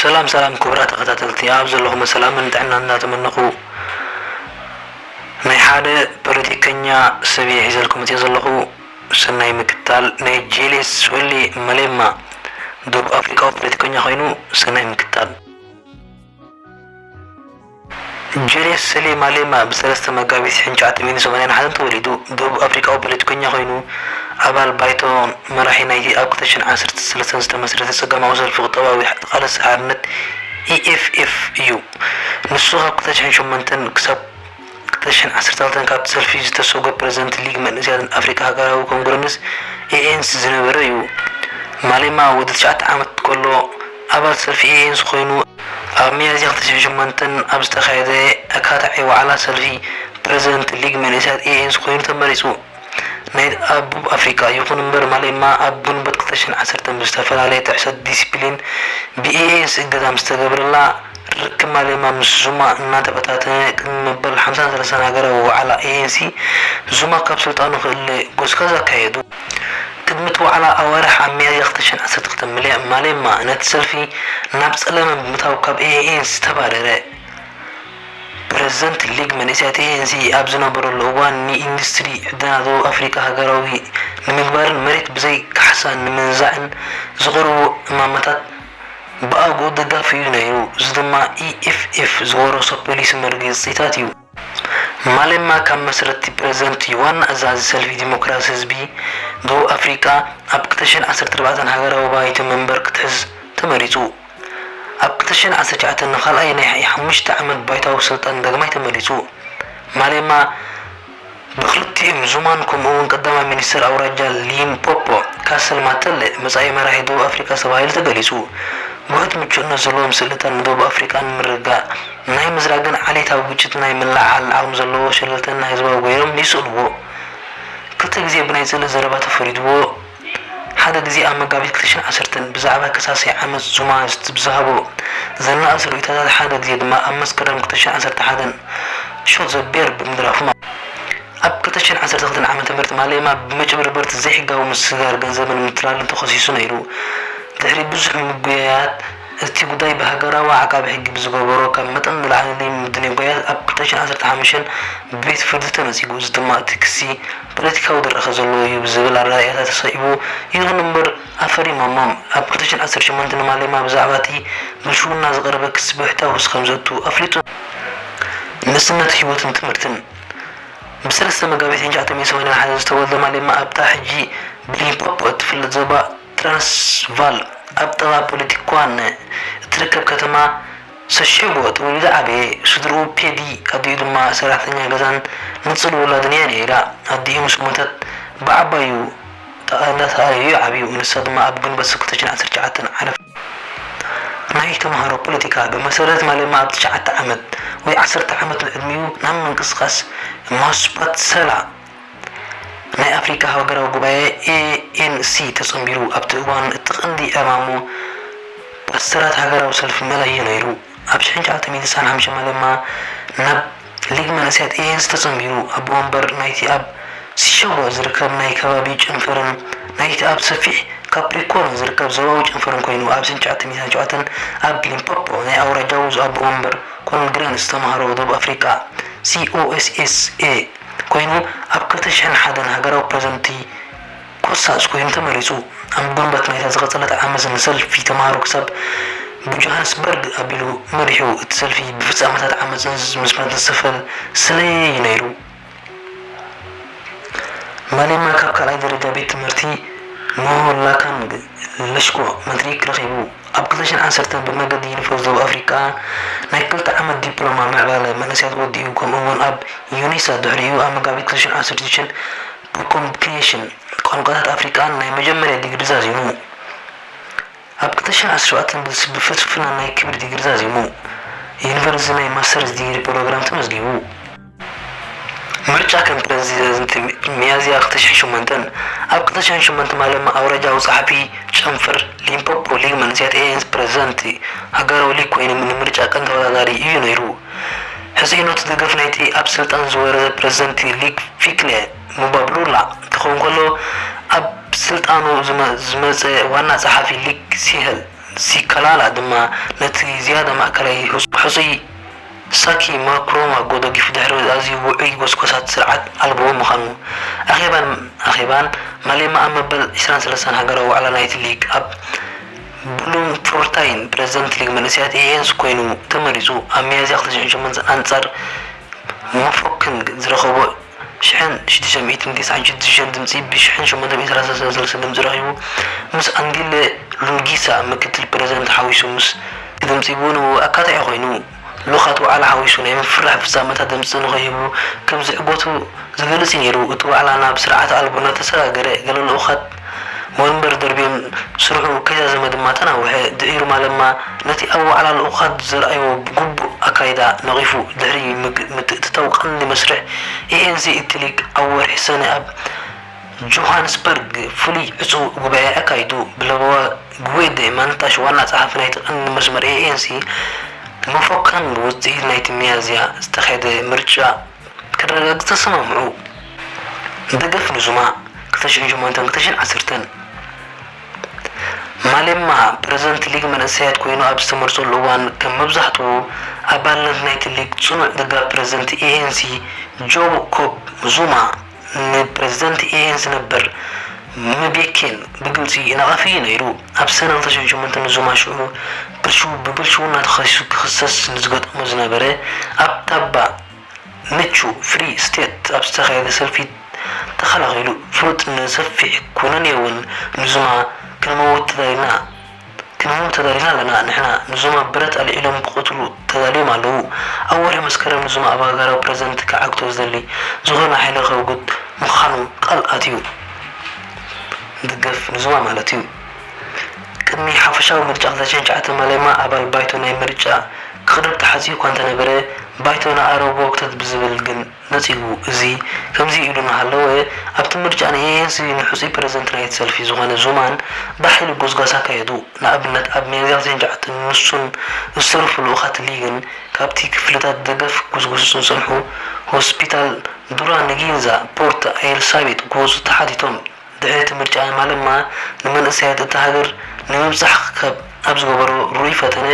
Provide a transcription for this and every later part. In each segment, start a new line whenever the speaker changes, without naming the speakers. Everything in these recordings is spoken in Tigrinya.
ሰላም ሰላም ክቡራት ተኸታተልቲ ኣብ ዘለኹሞ ሰላምን ጥዕናን እንዳተመነኹ ናይ ሓደ ፖለቲከኛ ሰብ እየ ሒዘልኩም መፂኦ ዘለኹ ሰናይ ምክታል ናይ ጄሌስ ወሊ መሌማ ደቡብ ኣፍሪቃዊ ፖለቲከኛ ኮይኑ ሰናይ ምክታል ጀልየስ ሰሌ ማሌማ ብ ሰለስተ መጋቢት ሽሕን ትሽዓተ ሚእትን ሰማንያን ሓደን ተወሊዱ፣ ደቡብ ኣፍሪቃዊ ፖለቲከኛ ኮይኑ፣ ኣባል ባይቶን መራሒ ናይቲ ኣብ ክልተ ሽሕን ዓሰርተ ሰለስተን ዝተመስረተ ጸጋማዊ ሰልፊ ቁጠባዊ ተቓለስቲ ሓርነት፣ EFF፣ እዩ። ንሱ ካብ ክልተ ሽሕን ሸሞንተን ክሳብ። ቅርሽን ዓሰርተክልተን ካብቲ ሰልፊ ዝተሰጎ ፕረዚደንት ሊግ መንእሰያትን ኣፍሪቃ ሃገራዊ ኮንግረንስ፣ ኤኤንሲ፣ ዝነበረ እዩ። ማሌማ ወዲ ትሽዓተ ዓመት ከሎ ኣባል ሰልፊ ኤኤንሲ ኮይኑ፣ ኣብ ሚያዝያ ክልተ ሽሕን ሸሞንተን ኣብ ዝተኻየደ ኣካታዒ ዋዕላ ሰልፊ፣ ፕረዚደንት ሊግ መንእሰያት ኤኤንሲ ኮይኑ ተመሪጹ። ናይ ኣቡብ ኣፍሪቃ፣ ይኹን እምበር ማሌማ ኣብ ግንቦት ክልተ ሽሕን ዓሰርተን ብዝተፈላለየ ጥሕሰት ዲሲፕሊን ብኤኤንሲ እገዳ ምስ ተገብረላ፣ ርክብ ማሌማ ምስ ዙማ እናተበታተነ ቅድሚ መበል ሓምሳን ሰለሳን ሃገራዊ ዋዕላ ኤኤንሲ፣ ዙማ ካብ ስልጣኑ ክእለ ጎስጋስ ኣካየዱ። ቅድሚ እቲ ዋዕላ ኣዋርሕ ኣብ ሚያዝያ ክልተ ሽሕን ዓሰርተ ክልተን ምለ ማሌማ ነቲ ሰልፊ ናብ ጸለመ ብምእታው ካብ ኤኤንሲ ተባረረ። ፕረዚደንት ሊግ መንእሰያት ኤኤንሲ ኣብ ዝነበረሉ እዋን ንኢንዱስትሪ ዕደና ደቡብ ኣፍሪቃ ሃገራዊ ንምግባርን መሬት ብዘይ ካሕሳ ንምንዛዕን ዝቐርቡ እማመታት ብኣግኡ ደጋፊ እዩ ነይሩ፣ እዚ ድማ EFF ዝወረሶ ፖሊሲ መርገጺታት እዩ። ማሌማ ካብ መስረትቲ ፕረዚደንት እዩ፣ ዋና ኣዛዚ ሰልፊ ዲሞክራሲ ህዝቢ ደቡብ ኣፍሪቃ ኣብ ክልተ ሽሕን ዓሰርተ ኣርባዕተን ሃገራዊ ባይቶ መንበር ክትሕዝ ተመሪጹ። ኣብ ክልተ ሽሕን ዓሰርተ ትሽዓተን ንካልኣይ ናይ ሓሙሽተ ዓመት ባይታዊ ስልጣን ዳግማይ ተመሪጹ። ማሌማ ብክልቲኦም ዙማን ከምኡ'ውን ቀዳማይ ሚኒስተር ኣውራጃ ሊምፖፖ ካሰል ማተለ መጻኢ መራሒ ደቡብ ኣፍሪቃ ተባሂሉ ተገሊጹ። ውሑድ ምቹእነት ዘለዎም ስእልታት ንደቡብ ኣፍሪቃ ንምርግጋእ ናይ ምዝራግን ዓሌታዊ ግጭት ናይ ምልዕዓልን ዓቕሚ ዘለዎ ሸለልተኛ ህዝባዊ ገይሮም ይስእልዎ። ክልተ ግዜ ብናይ ጽልኢ ዘረባ ተፈሪድዎ። ሓደ ግዜ ኣብ መጋቢት ክልተ ሽሕን ዓሰርተን ብዛዕባ ከሳሲ ዓመጽ ዙማ ዝሃቦ ዘናእስ ርእይቶታት ሓደ ግዜ ድማ ኣብ መስከረም ክልተ ሽሕን ዓሰርተ ሓደን Shot the Bear ብምድራፉ ኣብ ክልተ ሽሕን ዓሰርተ ክልተን ዓመተ ምህረት ማሌማ ብመጭበርበርት ዘይሕጋዊ ምስግጋር ገንዘብን ምትላልን ተኸሲሱ ነይሩ ድሕሪ ብዙሕ ምጉያያት እቲ ጉዳይ ብሃገራዊ ዓቃቢ ሕጊ ብዝገበሮ ካብ መጠን ንላዕሊ ምድንጓያት ኣብ ክልተ ሽሕን ዓሰርተ ሓሙሽተን ብቤት ፍርዲ ተነጺጉ እዚ ድማ እቲ ክሲ ፖለቲካዊ ድራኸ ዘለዎ እዩ ብዝብል ኣረኣእያታት ተሰኢቡ። ይኹን እምበር ኣፈሪሞሞም። ኣብ ክልተ ሽሕን ዓሰርተ ሸሞንተን ንማሌማ ብዛዕባ እቲ ብልሽውና ዝቐረበ ክሲ ብብሕታዊ ክሲ ከም ዘእቱ ኣፍሊጡ። ንእስነት፣ ህይወትን ትምህርትን። ብ ሰለስተ መጋቢት ን ትሽዓተ ሚእቲ ሰማንያን ሓደን ዝተወልደ ማሌማ ኣብታ ሕጂ ብሊምፖፖ እትፍለጥ ዞባ ትራንስቫል ኣብ ጥቓ ፖለቲኳን እትርከብ ከተማ ሰሽዑ ጥበብ ኢዛ ዓበየ ስድርኡ ፔዲ ኣዲኡ ድማ ሰራሕተኛ ገዛን ንጽል ውላድን እያ ነይራ ኣዲኡ ምስ ሞተት ብዓባዩ ጣእንዳተኣለዩ እዩ ዓብዩ ንሳ ድማ ኣብ ግንቦት ስክልተ ሽሕን ዓሰርተ ትሽዓተን ዓረፈት ናይ ተማሃሮ ፖለቲካ ብመሰረት ማለማ ኣብ ትሽዓተ ዓመት ወይ ዓሰርተ ዓመት ንዕድሚኡ ናብ ምንቅስቃስ ማስፓትሰላ ናይ ኣፍሪቃ ሃገራዊ ጉባኤ፣ ANC፣ ተጸንቢሩ ኣብቲ እዋን እቲ ቀንዲ ዕማሙ ፓስተራት ሃገራዊ ሰልፊ መላ ኢዩ ነይሩ። ኣብ ሽሕን ሸውዓተ ሚእትን ስሳን ሓምሽን መለማ ናብ ሊግ መንእሰያት ANC ተጸንቢሩ ኣቦ ወንበር ናይቲ ኣብ ሲሸጎ ዝርከብ ናይ ከባቢ ጨንፈርን ናይቲ ኣብ ሰፊሕ ካፕሪኮርን ዝርከብ ዞባዊ ጨንፈርን ኮይኑ ኣብ ሽሕን ሸውዓተ ሚእትን ሸውዓተን ኣብ ሊምፖፖ ናይ ኣውራጃዊ ኣቦ ወንበር ኮንግረን ዝተማህሮ ደቡብ ኣፍሪቃ COSSA ኮይኑ ኣብ ክልተ ሽሕን ሓደን ሃገራዊ ፕረዘንትቲ ኮሳስ ኮይኑ ተመሪጹ። ኣብ ግንቦት ናይታ ዝቐጸለት ዓመት ንሰልፊ ተማሃሮ ክሳብ ብጆሃንስበርግ ኣቢሉ መሪሑ። እቲ ሰልፊ ብፍጻመታት ዓመጽን ምስማትን ዝተሰፈን ስለየ እዩ ነይሩ። ማሌማ ካብ ካልኣይ ደረጃ ቤት ትምህርቲ ሞሆላካንግ ለሽኮ ማትሪክ ረኺቡ። ኣብ ክልተ ሽሕን ዓሰርተን ብመገዲ ዩኒፎርስ ደቡብ ኣፍሪቃ ናይ ክልተ ዓመት ዲፕሎማ ምዕባለ መንእሰያት ወዲኡ ከምኡ'ውን ኣብ ዩኒሳ ድሕሪኡ ኣብ መጋቢት ክልተ ሽሕን ዓሰርተ ሽዱሽተን ብኮምፒዩቴሽን ቋንቋታት ኣፍሪቃን ናይ መጀመርያ ዲግሪ ዛዚሙ። ኣብ ክልተ ሽሕን ዓሰርተ ሸውዓተን ብፍልስፍና ናይ ክብሪ ዲግሪ ዛዚሙ። ዩኒቨርሲቲ ናይ ማስተርስ ዲግሪ ፕሮግራም ተመዝጊቡ። ምርጫ ከም ፕረዚደዝንት ሚያዝያ ክተሽሕን ሸሞንተን ኣብ ክተሽሕን ሸሞንተ ማለማ ኣውራጃዊ ጸሓፊ ጨንፈር ሊምፖፖ ሊግ መንእሰያት ኤኤንስ ፕረዚደንት ሃገራዊ ሊግ ኮይኑ ንምርጫ ቀንዲ ተወዳዳሪ እዩ ነይሩ። ሕጽይነቱ ደገፍ ናይቲ ኣብ ስልጣን ዝወረደ ፕረዚደንት ሊግ ፊክለ ሙባብሉላ ክኸውን ከሎ ኣብ ስልጣኑ ዝመጸ ዋና ጸሓፊ ሊግ ሲሀል ሲካላላ ድማ ነቲ ዝያዳ ማእከላይ ሕጹይ ሳኪ ማክሮን ኣብ ጎ ደጊፉ ድሕሪ ኣዝዩ ውዑይ ጎስጎሳት ስርዓት ኣልቦ ምኻኑ፣ ኣኼባን ኣኼባን ማሌማ ኣብ መበል ዕስራን ሰለሳን ሃገራዊ ዋዕላ ናይቲ ሊግ ኣብ ብሉምፎርታይን ፕረዚደንት ሊግ መንእሰያት ኤኤንስ ኮይኑ ተመሪጹ ኣብ ሚያዝያ ክልተ ሽሕን ሸሞንተን ኣንጻር ሞፎክንግ ዝረኸቦ ሽሕን ሽዱሽተ ሚእትን ቴስዓን ሽዱሽተን ድምጺ ብሽሕን ሸሞንተ ሚእትን ሰላሳን ሰለስተ ድምጺ ረኺቡ፣ ምስ ኣንዲለ ሉንጊሳ ምክትል ፕረዚደንት ሓዊሱ ምስ። ድምጺ ቡን ኣካታዒ ኮይኑ፣ ልኡኻት ዋዕላ ሓዊሱ ናይ ምፍርራሕ ፍጻመታት ድምጺ ንኸይህቡ ከም ዝዕገቱ ዝገልጽ እዩ ነይሩ። እቲ ዋዕላ ናብ ስርዓተ ኣልቦነት ተሰጋገረ፣ ገለ ልኡኻት። ወንበር ደርብዩን ስርሑ ከይዛዘመ ድማ ተናውሐ። ድሒሩ ማለማ ነቲ ኣብ ዋዕላ ልኡኻት ዘርኣዮ ግቡእ ኣካይዳ ነቒፉ ድሕሪ ምትእትታው ቀንዲ መስርሕ ኤኤንሲ ኢትሊክ ኣብ ወርሒ ሰነ ኣብ ጆሃንስበርግ ፍሉይ ዕጹው ጉባኤ ኣካይዱ። ብለበዋ ግዌደ ማንታሽ ዋና ጸሓፊ ናይቲ ቀንዲ መስመር ኤኤንሲ መፎከን ብውጽኢት ናይቲ ሚያዝያ ዝተኻየደ ምርጫ ከረጋግጽ ተሰማምዑ። ደገፍ ንዙማ ክልተ ሽሕን ሸሞንተን ክልተ ሽሕን ዓሰርተን ማሌማ ፕረዚደንት ሊግ መንእሰያት ኮይኑ ኣብ ዝተመርጸሉ እዋን ከም መብዛሕትኡ ኣባልነት ናይቲ ሊግ ጽኑዕ ደጋፊ ፕረዚደንት ኤኤንሲ ጆብኮብ ዙማ ንፕረዚደንት ኤኤን ዝነበር ምቤኬን ብግልጺ ይነቐፍ እዩ ነይሩ። ኣብ ሰነ ክልተ ሽሕን ሸሞንተን ንዙማ ሽዑ ብልሽው ብብልሽውና ተኸሲሱ ክኽሰስ ንዝገጠሞ ዝነበረ ኣብ ታባ ምቹ፣ ፍሪ ስቴት፣ ኣብ ዝተኻየደ ሰልፊ ተኸላኺሉ። ፍሉጥ ንሰፊሕ ኩነኔ'ውን ንዙማ ክንመውት ተዳሊና! ቅድሚኦም ተጋዲልና ኣለና ንሕና ንዞም ኣብ ብረት ኣልዒሎም ክቀትሉ ተዳልዮም ኣለዉ ኣብ ወርሒ መስከረም ንዞም ኣብ ሃገራዊ ፕረዚደንት ክዓግቶ ዝደሊ ዝኮነ ሓይሊ ከውግድ ምካኑ ቃል ኣትዩ ንድገፍ ንዞማ ማለት እዩ ቅድሚ ሓፈሻዊ ምርጫ ክልተ ሽሕን ትሽዓተን ማሌማ ኣባል ባይቶ ናይ ምርጫ ክቅርብ ተሓጽዩ እኳ እንተነበረ ባይቶ ንኣረብ ወክተት ብዝብል ግን ነጺጉ። እዚ ከምዚ ኢሉ እናሃለወ፣ ኣብቲ ምርጫ ንኤኤንሲ ንሕጹይ ፕረዚደንት ናይቲ ሰልፊ ዝዀነ ዙማን ብሓይሊ ጐስጓስ ኣካየዱ። ንኣብነት ኣብ ሚያዝያ ክሳዕ ትሽዓተ ንሱን ዝተረፉ ልኡኻት ሊግን ካብቲ ክፍልታት ደገፍ ክጕስጕሱ ዝጸንሑ ሆስፒታል ዱራንጊንዛ ፖርት ኣየልሳቤጥ ክወጹ ተሓቲቶም። ድሕሪ እቲ ምርጫ ማለማ ንመንእሰያት እታ ሃገር ንምብጻሕ ክከብ ኣብ ዝገበሮ ርኡይ ፈተነ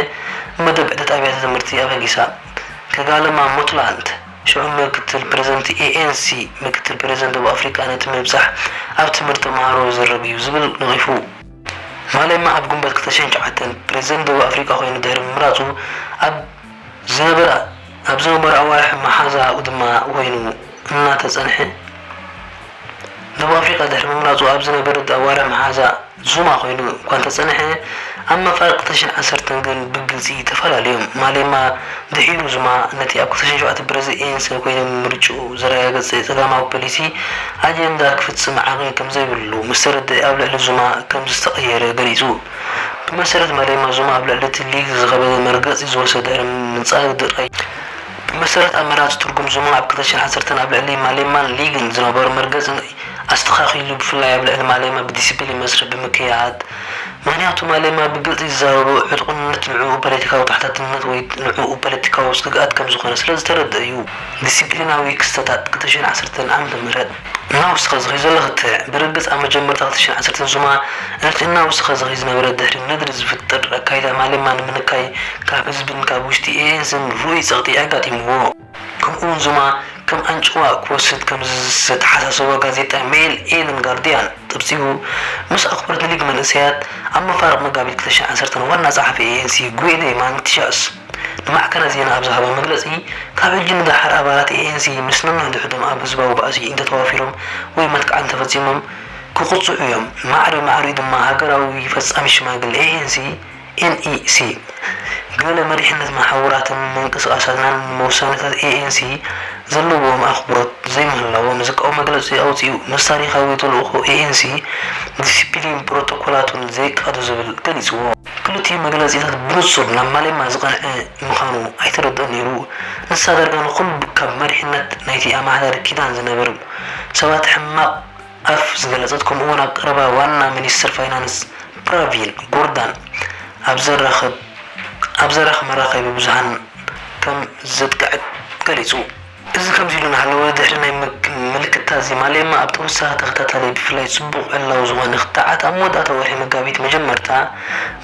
መደብ ዑደት ኣብያተ ትምህርቲ ኣበጊሳ ክጋለማ ሞትላንድ ሽዑ ምክትል ፕረዚደንት ኤኤንሲ ምክትል ፕረዚደንት ደቡብ ኣፍሪቃ ነቲ ምብጻሕ ኣብ ትምህርቲ ተማሃሮ ዝዝረግ እዩ ዝብል ነቒፉ። ማሌማ ኣብ ግንቦት ክልተ ሽሕን ትሽዓተን ፕረዚደንት ደቡብ ኣፍሪቃ ኮይኑ ድሕሪ ምምራጹ ኣብ። ዝነበራ ኣብዚ ወንበር ኣዋርሕ መሓዛኡ ድማ ኮይኑ እናተጸንሐ ደቡብ ኣፍሪቃ ድሕሪ ምምራጹ ኣብዚ ነበረድ ኣዋርሕ መሓዛ ዙማ ኮይኑ እኳ እንተጸንሐ ኣብ መፋርቕ ተሽን ዓሰርተን ግን ብግልጺ ተፈላለዮም። ማሌማ ድሒሩ ዙማ ነቲ ኣብ ክልተ ሽሕን ሸውዓተ ብረዚ ኤንሰ ኮይኑ ምምርጭኡ ዘረጋገጸ ጸጋማዊ ፖሊሲ ኣጀንዳ ክፍጽም ዓቕሚ ከምዘይብሉ ምስተረድኣ ኣብ ልዕሊ ዙማ ከምዝተቐየረ ገሊጹ። ብመሰረት ማሌማ ዙማ ኣብ ልዕሊ እቲ ሊግ ዝኸበደ መርገጺ ዝወሰደ ድሕሪ ምንጻግ ጥራይ እዩ። ብመሰረት ኣመራጺ ትርጉም ዙማ ኣብ ክልተ ሽሕ ዓሰርተን ኣብ ልዕሊ ማሌማን ሊግን ዝነበሮ መርገጺ ናይ ኣስተኻኺሉ ብፍላይ ኣብ ልዕሊ ማሌማ ብዲሲፕሊን መስርሕ ብምክያድ ምኽንያቱ ማሌማ ብግልጺ ዝዛረቦ ዕጡቕነት ንዕኡ ፓለቲካዊ ተሓታትነት ወይ ንዕኡ ፓለቲካዊ ስግኣት ከምዝኾነ ስለዝተረድኣ እዩ። ዲሲፕሊናዊ ክስተታት ክልተ ሽሕ ዓሰርተን ዓመተ ምህረት። እናወስኸ ዝኸይድ ዘሎ ክትዕ፣ ብርግጽ ኣብ መጀመርታ ክልተ ሽሕን ዓሰርተን ዙማ ነቲ እናወስኸ ዝኸይድ ዝነበረ ድሕሪ ነድሪ ዝፍጠር ኣካይዳ ማሌማ ንምንካይ ካብ ህዝብን ካብ ውሽጢ ኤኤንስን ርኡይ ጸቕጢ ኣጋጢምዎ። ከምኡ'ውን ዙማ ከም ኣንጭዋ ክወስድ ከምዝተሓሳሰቦ ጋዜጣ ሜይል ኤልን ጋርድያን ጸብጺቡ። ምስ ኣኽብሮት ንሊግ መንእሰያት፣ ኣብ መፋርቕ መጋቢት ክልተ ሽሕን ዓሰርተን ዋና ጸሓፊ ኤኤንሲ ጉዌሌ ማንቲሻስ፣ ንማዕከናት ዜና ኣብ ዝሃቦ መግለጺ፣ ካብ ሕጂ ንደሓር ኣባላት ኤኤንሲ ምስ ነንሕድሕዶም ኣብ ህዝባዊ ባእሲ እንተተዋፊሮም ወይ መጥቃዕቲ እንተፈጺሞም ክቕጽዑ እዮም፣ ማዕረ ማዕሪኡ ድማ ሃገራዊ ፈጻሚት ሽማግለ ኤኤንሲ፣ NEC፣ ገለ መሪሕነት መሓውራትን ምንቅስቓሳትናን ንመውሳኔታት ኤኤንሲ ዘለዎም ኣኽብሮት ዘይምህላዎም ዝቃወም መግለጺ ኣውጺኡ ምስ ታሪኻዊ ተልእኾ ኤኤንሲ ዲሲፕሊንን ፕሮቶኮላቱን ዘይቃዶ ዝብል ገሊጽዎ። ክልቲኡ መግለጺታት ብንጹር ናብ ማሌማ ዝቐንዐ ምኻኑ ኣይተረድኦን ነይሩ። ንሳ ዳርጋ ንኹሉ ካብ መሪሕነት ናይቲ ኣማሓዳሪ ኪዳን ዝነበሩ ሰባት ሕማቕ ኣፍ ዝገለጸት ከምኡ'ውን ኣብ ቀረባ ዋና ሚኒስተር ፋይናንስ ፕራቪን ጎርዳን ኣብ ዘራኽብ ኣብ ዘራኽ መራኸቢ ብዙሃን ከም ዘጥቀዐት ገሊጹ። እዚ ከምዚ ኢሉ እናሃለወ፣ ድሕሪ ናይ ምልክታ ዚማሌማ ኣብ ተወሳኺ ተኸታታሊ ብፍላይ ጽቡቕ ዕላዊ ዝኾነ ክትዓት ኣብ መወዳእታ ወርሒ መጋቢት መጀመርታ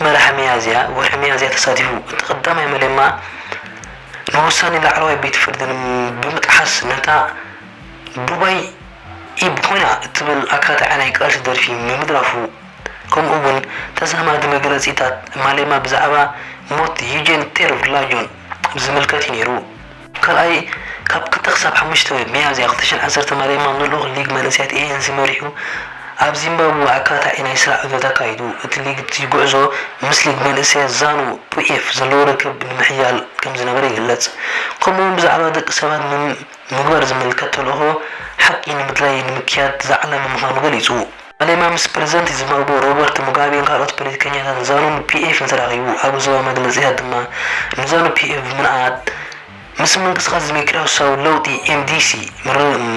መርሓ ሚያዝያ፣ ወርሒ ሚያዝያ፣ ተሳቲፉ። እቲ ቀዳማይ ማሌማ ንውሳኔ ላዕለዋይ ቤት ፍርዲ ብምጥሓስ ነታ ዱባይ ኢብ ኮይና እትብል ኣካታዒ ናይ ቃልሲ ደርፊ ምምድራፉ ከምኡ ውን ተዛማዲ መግለጺታት ማሌማ ብዛዕባ ሞት ዩጄን ቴርቭላጆን ዚምልከት እዩ ነይሩ። ካልኣይ፣ ካብ ክልተ ክሳብ ሓሙሽተ ሚያዝያ ክልተ ሽሕን ዓሰርተን ማሌማ ንልኡኽ ሊግ መንእሰያት ኤኤንሲ መሪሑ ኣብ ዚምባብወ ኣካታዒ ናይ ስራሕ ዑደት ኣካይዱ። እቲ ሊግ እቲ ጉዕዞ ምስ ሊግ መንእሰያት ዛኑ ፒኤፍ ዘለዎ ርክብ ንምሕያል ከም ዝነበረ ይግለጽ። ከምኡ'ውን ብዛዕባ ደቂ ሰባት ምም ምግባር ዝምልከት ተልእኾ ሓቂ ንምድላይ ንምክያድ ዝዓለመ ምዃኑ ገሊጹ። ባሌማ ምስ ፕረዚደንት ዚምባብወ ሮበርት ሙጋቤን ካልኦት ፖለቲከኛታትን ዛኑ ፒኤፍን ተራኺቡ፣ ኣብ ዞባዊ መግለጺታት ድማ ንዛኑ ፒኤፍ ብምንኣድ ምስ ምንቅስቓስ ዲሞክራስያዊ ለውጢ፣ MDC፣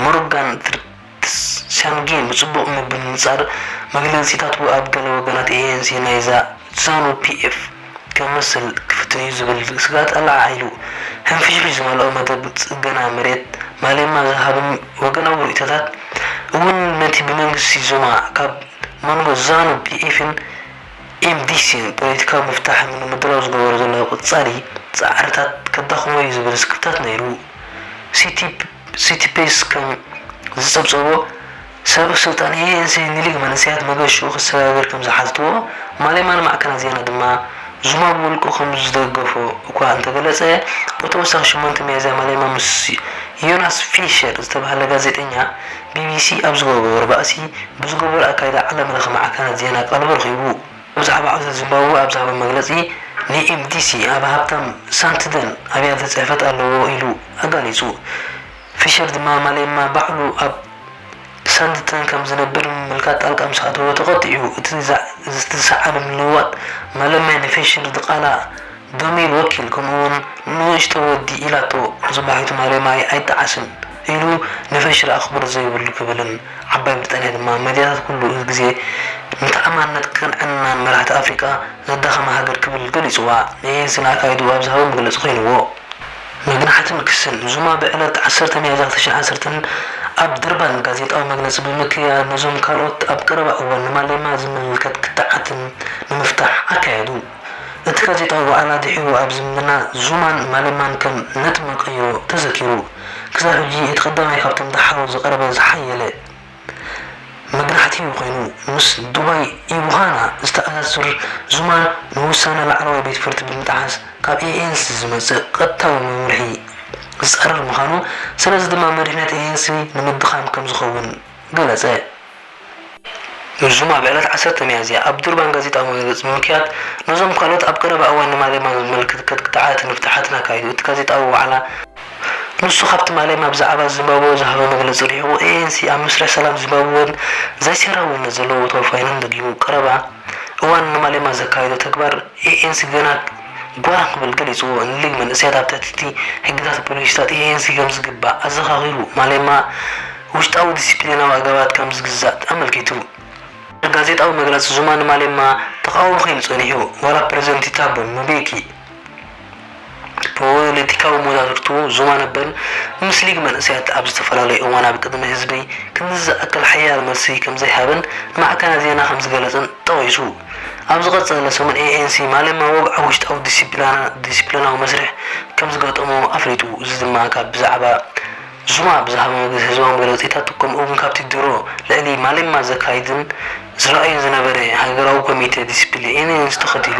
ሞርጋን ትርትስያንጌን ብጽቡቕ ምብንጻር መግለጺታቱ ኣብ ገለ ወገናት ANC ናይዛ ዛኑ ፒኤፍ፣ ከምስል ክፍትን'ዩ ዝብል ስግኣት ኣለዓዒሉ። ሕንፍሽፍሽ ዝመልኦ መደብ ጽገና መሬት ማሌማ ዝሃብን ወገናዊ ርእይቶታት እውን ነቲ ብመንግስቲ ዙማ ካብ መንጎ ዛኑ ፒኤፍን ኤምዲሲን ፖለቲካዊ ምፍታሕ ንምድላው ዝገበሮ ዘሎ ቀጻሊ ጻዕርታት ከዳኽሞ'ዩ ዝብል ስክፍታት ነይሩ። ሲቲፕስ ከም ዝጸብጸቦ፣ ሰልፍ ስልጣን ኤኤንሲ ንሊግ መንእሰያት መገሽኡ ክሰጋገር ከም ዝሓተትዎ፣ ማሌማ ንማዕከናት ዜና ድማ ዙማ ብውልቁ ከም ዝደገፎ እኳ እንተገለጸ፣ ብተወሳኺ ሸሞንተ ሚያዝያ ማሌማ ምስ ዮናስ ፊሸር ዝተባህለ ጋዜጠኛ ቢቢሲ ኣብ ዝገበሮ ባእሲ ብዝገበሮ ኣካይዳ ዓለምለኸ ማዕከናት ዜና ቀልቡ ረኺቡ። ብዛዕባ ዕብደት ዚምባብወ ኣብ ዝሃቦ መግለጺ፣ ንኤምዲሲ ኣብ ሃብታም ሳንትደን ኣብያተ ጽሕፈት ኣለዎ ኢሉ ኣጋሊጹ። ፊሸር ድማ ማሌማ ባዕሉ ኣብ ሳንድተን ከም ዝነብር ብምምልካት ጣልቃ ምስ ኣተወ ተቘጢዑ። እቲ ዝሰዓበ ምልውዋጥ ማሌማ ንፊሸር ድቓላ፣ ዶሚል ወኪል፣ ከምኡ'ውን ንእሽቶ ወዲ ኢላቶ ጽባሒቱ ማሌማይ ኣይጠዓስን ኢሉ ንፊሸር ኣኽብሮት ዘይብሉ ክብልን ዓባይ ብሪጣንያ ድማ መድያታት ኩሉ ግዜ ንተኣማንነት ቅንዕናን መራሕቲ ኣፍሪቃ ዘዳኸማ ሃገር ክብል ገሊጽዋ ንኤኤንሲ ንኣካይድኡ ኣብ ዝሃቦ መግለጺ ኮይንዎ። መግናሕትን ክስን ዙማ ብዕለት ዓሰርተ ሚያዝያ ክልተ ሽሕን ዓሰርተን ኣብ ድርባን ጋዜጣዊ መግለጺ ብምክያድ ነዞም ካልኦት ኣብ ቀረባ እዋን ንማሌማ ዝምልከት ክትዓትን ንምፍታሕ ኣካየዱ። እቲ ጋዜጣዊ ዋዕላ ድሒሩ ኣብ ዝምድና ዙማን ማሌማን ከም ነጥቢ ቀይሮ ተዘኪሩ። ክሳብ ሕጂ እቲ ቀዳማይ ካብቶም ደሓሩ ዝቐረበ ዝሓየለ። መብራህቲ ኮይኑ ምስ ዱባይ ኢቡሃና ዝተኣሳስር ዙማን ንውሳነ ላዕለዋይ ቤት ፍርዲ ብምጥሓስ ካብ ኤኤንሲ ዝመጽእ ቀጥታዊ መምርሒ ዝጻረር ምዃኑ ስለዚ ድማ መሪሕነት ኤኤንሲ ንምድኻም ከም ዝኸውን ገለጸ። ዙማ ብዕለት ዓሰርተ ሚያዝያ ኣብ ዱርባን ጋዜጣዊ መግለጺ ብምክያድ ነዞም ካልኦት ኣብ ቀረባ እዋን ንማሌማ ዝምልክት ከትግታዓትን ፍትሓትን ኣካይዱ እቲ ጋዜጣዊ ዋዕላ ንሱ ካብ ትማሊ ናብ ዛዕባ ዚምባብወ ዝሃቦ መግለጺ ርሒቑ፣ ኤኤንሲ ኣብ መስርሕ ሰላም ዚምባብወን ዘይሰራዊነት ዘለዎ ተወፋይነትን ደጊሙ። ቀረባ እዋን ንማሌማ ዘካየዶ ተግባር ኤኤንሲ ገና ጓራ ክብል ገሊጽዎ። ንሊግ መንእሰያት ኣብ ትሕቲ'ቲ ሕግታትን ፖሊሲታትን ኤኤንሲ ከም ዚግባእ ኣዘኻኺሩ። ማሌማ ውሽጣዊ ዲሲፕሊናዊ ኣገባባት ከም ዚግዛእ ኣመልኪቱ። ኣብ ጋዜጣዊ መግለጺ ዙማ ንማሌማ ተቓዋሚ ኰይኑ ጸኒሑ፣ ዋላ ፕረዚደንት ቲታቦ ምቤኪ፣ ፖለቲካዊ መዛግብቱ ዞባ ነበር ምስ ሊግ መንእሰያት ኣብ ዝተፈላለዩ እዋን ኣብ ቅድሚ ህዝቢ ክንድዚ ዝኣክል ሓያል መልሲ ከምዘይሃበን ንማዕከናት ዜና ከምዝገለጸን ጠቒሱ፣ ኣብ ዝቐጸለ ሰሙን ኤኤንሲ ማሌማ ወግዓዊ ውሽጣዊ ዲሲፕሊናዊ መስርሕ ከምዝገጠሞ ኣፍሊጡ። እዚ ድማ ካብ ብዛዕባ ዙማ ብዝሃቦ ህዝባዊ መግለጺታት ከምኡ'ውን ካብቲ ድሮ ልዕሊ ማሌማ ዘካይድን ዝርኣይን ዝነበረ ሃገራዊ ኮሚቴ ዲሲፕሊንን ተኸቲሉ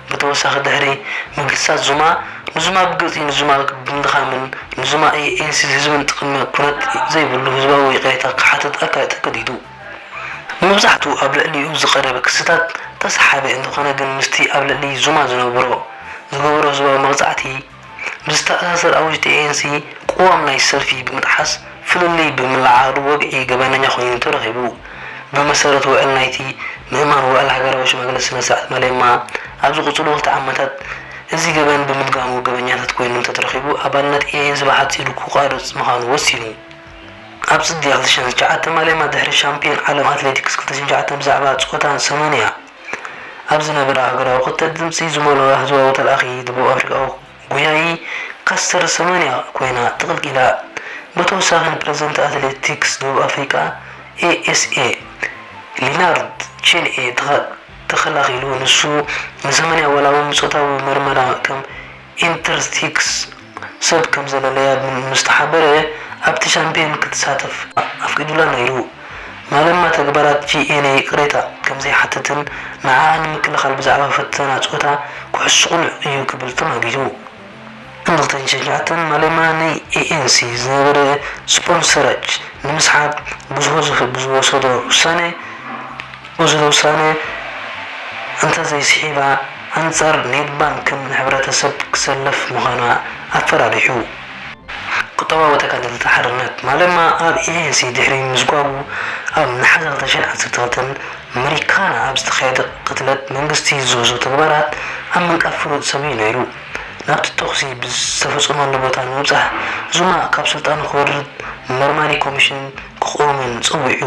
ብተወሳኺ ድሕሪ ምግህሳት ዙማ ንዙማ ብግልፂ ንዙማ ብምድኻምን ንዙማ ኤኤንሲ ህዝብን ጥቕሚ ኩነት ዘይብሉ ህዝባዊ ይቕሬታ ክሓትት ኣካል ተገዲዱ። ንመብዛሕትኡ ኣብ ልዕሊኡ ዝቐረበ ክስታት ተሰሓቢ እንተኾነ ግን ምስቲ ኣብ ልዕሊ ዙማ ዝነብሮ ዝገበሮ ህዝባዊ መቕፃዕቲ ብዝተኣሳሰር ኣውጅት ኤኤንሲ ቅዋም ናይ ሰልፊ ብምጥሓስ ፍልልይ ብምልዓዓሉ ወግዒ ገበነኛ ኮይኑ ተረኺቡ። ብመሰረት ውዕል ናይቲ ምእማን ውዕል ሃገራዊ ሽማግለ ስነ ስርዓት ማሌማ ኣብ ዝቕፅሉ ክልተ ዓመታት እዚ ገበን ብምድጋሙ ገበኛታት ኮይኖም እንተተረኺቡ ኣባልነት ኤኤንሲ ብሓፂሩ ክቋረፅ ምዃኑ ወሲኑ። ኣብ ፅድያ ክልተ ሽሕን ትሽዓተን ማሌማ ድሕሪ ሻምፒዮን ዓለም ኣትሌቲክስ ክልተ ሽሕን ትሽዓተን ብዛዕባ ፆታን ሰማንያ። ኣብ ዝነበረ ሃገራዊ ክትዕ ድምጺ ዝመልኦ ህዝባዊ ተልኣኺ ደቡብ ኣፍሪቃዊ ጎያዪ ካስተር ሰማንያ ኮይና ተቐልቂላ። ብተወሳኺ ንፕረዚደንት ኣትሌቲክስ ደቡብ ኣፍሪቃ፣ ASA፣ ሊናርድ ቼንኤ ተኸላኺሉ፣ ንሱ ንሰማንያ ዋላ'ውን ንጾታዊ መርመራ ከም ኢንተርሲክስ፣ ሰብ ከምዘለለያ ምስ ተሓበረ ኣብቲ ሻምፕዮን ክትሳተፍ ኣፍቂዱላ ነይሩ። ማለማ ተግባራት ጂኤንኤ ይቕሬታ ከምዘይሓትትን ንዓኣ ንምክልኻል ብዛዕባ ፈተና ጾታ ኩዕሶ ቅኑዕ እዩ ክብል ተማጊቱ። ን ክልተ ሽሕን ትሽዓተን ማለማ ናይ ኤኤንሲ ዝነበረ ስፖንሰራጅ ንምስሓብ ብዝሆ ዝወሰዶ ውሳነ፣ እዚ ውሳነ እንተዘይስሒባ ኣንጻር ኔድ ባንክን ሕብረተሰብ ክሰለፍ ምዃና ኣፈራሪሑ። ቁጠባዊ ተጋደልቲ ሓርነት ማለማ ኣብ ኤኤንሲ ድሕሪ ምዝጓቡ ኣብ ነሓሰ ክልተ ሽሕን ዓሰርተ ክልተን መሪካና ኣብ ዝተኻየደ ቅትለት መንግስቲ ዝወስዶ ተግባራት ኣብ ምንቃፍ ፍሉጥ ሰብ'ዩ ነይሩ። ናብቲ ተኹሲ ብዝተፈጸመሉ ቦታ ንምብጻሕ ዙማ ካብ ስልጣኑ ክወርድ መርማሪ ኮሚሽን ክቑምን ጸዊዑ።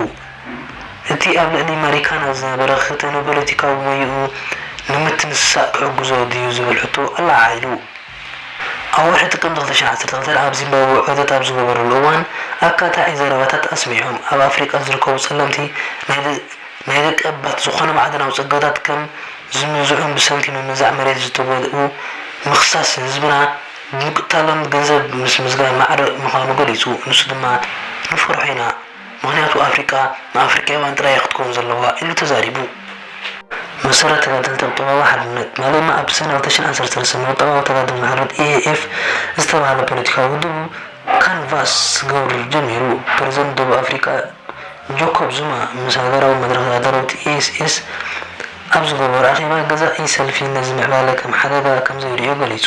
እቲ ኣብ ልዕሊ ማሪካና ዝነበረ ክተ ንፖለቲካዊ ሞያኡ ንምትንሳእ ክሕግዞ ድዩ ዝብል ሕቶ ኣለዓዒሉ። ኣብ ወርሒ ጥቅምቲ ክልተ ሽሕን ዓሰርተ ክልተን ኣብ ዚምባብወ ዑደት ኣብ ዝገበረሉ እዋን ኣካታዒ ዘረባታት ኣስሚዖም። ኣብ ኣፍሪቃ ዝርከቡ ጸለምቲ ናይ ደቀባት ዝኾነ ማዕድናዊ ጸጋታት ከም ዝምንዝዑን ብሰንኪ ምምንዛዕ መሬት ዝተጎድኡ ምኽሳስ ህዝብና ብምቅታሎም ገንዘብ ምስ ምዝጋብ ማዕረ ምዃኑ ገሊጹ። ንሱ ድማ ንፈርሖ ኢና። ምኽንያቱ ኣፍሪቃ ንኣፍሪቃዊያን ጥራይ ኢያ ክትከውን ዘለዋ ኢሉ ተዛሪቡ። ብመሰረት ተጋደልቲ ቁጠባዊ ሓድነት፣ ማሌማ ኣብ ሰነ ክልተ ሽሕን ዓሰርተ ሰለስተን ንቁጠባዊ ተጋድሎ ሓርነት፣ EAF፣ ዝተባህለ ፖለቲካዊ ውድቡ ካንቫስ ክገብር ጀሚሩ። ፕረዚደንት ደቡብ ኣፍሪቃ ጆኮብ ዙማ ምስ ሃገራዊ መድረኽ ተጋደልውቲ፣ ESS፣ ኣብ ዝገበሮ ኣኼባ፣ ገዛኢ ሰልፊ ነዚ ምዕባለ ከም ሓደጋ ከምዘይርእዮ ገሊጹ።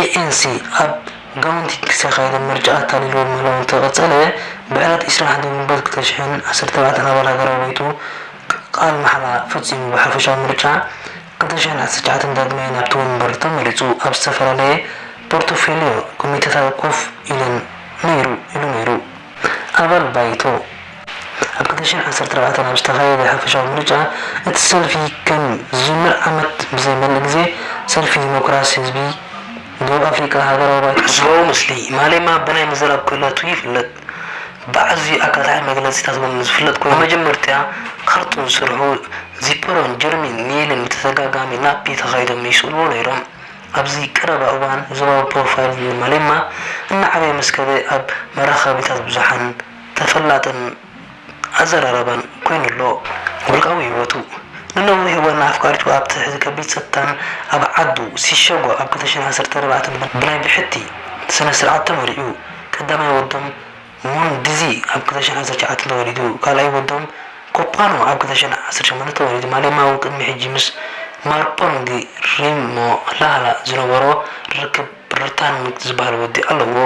ኤኤንሲ ኣብ ጋውንቲ ብዝተኻየደ ምርጫ ኣታሊልዎ ምህላዉ እንተቐጸለ፣ ብዕለት ዕስራን ሓደን ግንቦት ክልተ ሽሕን ዓሰርተ ኣርባዕተን ኣባል ሃገራዊ ባይቶ ቃል ማሕላ ፈጺሙ ብሓፈሻዊ ምርጫ ክልተ ሽሕን ዓሰርተ ትሽዓተን ዳግማይ ናብቲ ወንበር ተመሪጹ ኣብ ዝተፈላለየ ፖርቶፌልዮ ኮሚቴታት ኮፍ ኢለን ነይሩ ኢሉ ነይሩ። ኣባል ባይቶ ኣብ ክልተ ሽሕን ዓሰርተ ኣርባዕተን ኣብ ዝተኻየደ ሓፈሻዊ ምርጫ እቲ ሰልፊ ከም ዝጅምር ዓመት ብዘይመልእ ግዜ ሰልፊ ዲሞክራሲ ህዝቢ ደቡብ ኣፍሪቃ ሃገራዊ ባይቶ ሓድነት ህዝባዊ ምስሊ ማሌማ ብናይ ምዝራብ ክእለቱ ይፍለጥ። ብኣዝዩ ኣካታዒ መግለጺታት ውን ዝፍለጥ ኮይኑ መጀመርትያ ካርቱን ስርሑ ዚፐሮን ጀርሚን ኒይልን ብተደጋጋሚ ናፒ ተኻይዶም ይስእልዎ ነይሮም። ኣብዚ ቀረባ እዋን ዞባዊ ፕሮፋይል ንማሌማ እናዓበየ ምስ ከደ ኣብ መራኸቢታት ብዙሓን ተፈላጥን ኣዘራራባን ኮይኑ ኣሎ። ውልቃዊ ህይወቱ፣ ንነዊሕ እዋን ንኣፍቃሪቱ ኣብ ትሕቲ ከቢድ ጸጥታን ኣብ ዓዱ ሲሸጎ ኣብ ክልተ ሽሕን ዓሰርተ ኣርባዕተን ብናይ ብሕቲ ስነ-ስርዓት ተመርዕዩ ቀዳማይ ወዶም ሞን ዲዚ ኣብ ክልተ ሽሕን ዓሰርተ ትሽዓተን ተወሊዱ። ካልኣይ ወዶም ኮፓኖ ኣብ ክልተ ሽሕን ዓሰርተ ሸሞንተን ተወሊዱ። ማሌማ እውን ቅድሚ ሕጂ ምስ ማርፖንግ ሪሞላላ ዝነበሮ ርክብ ርታንግ ዝበሃል ወዲ ኣለዎ።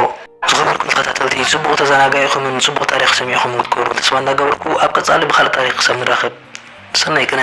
ዝኸበርኩም ተኸታተልቲ ጽቡቕ ተዘናጋኢኹምን ጽቡቕ ታሪኽ ሰሚዕኹምን ክትኮርዑ ተስፋ እንዳገበርኩ ኣብ ቀጻሊ ብኻልእ ታሪኽ ክሳብ ንራኸብ ሰናይ ቅነ።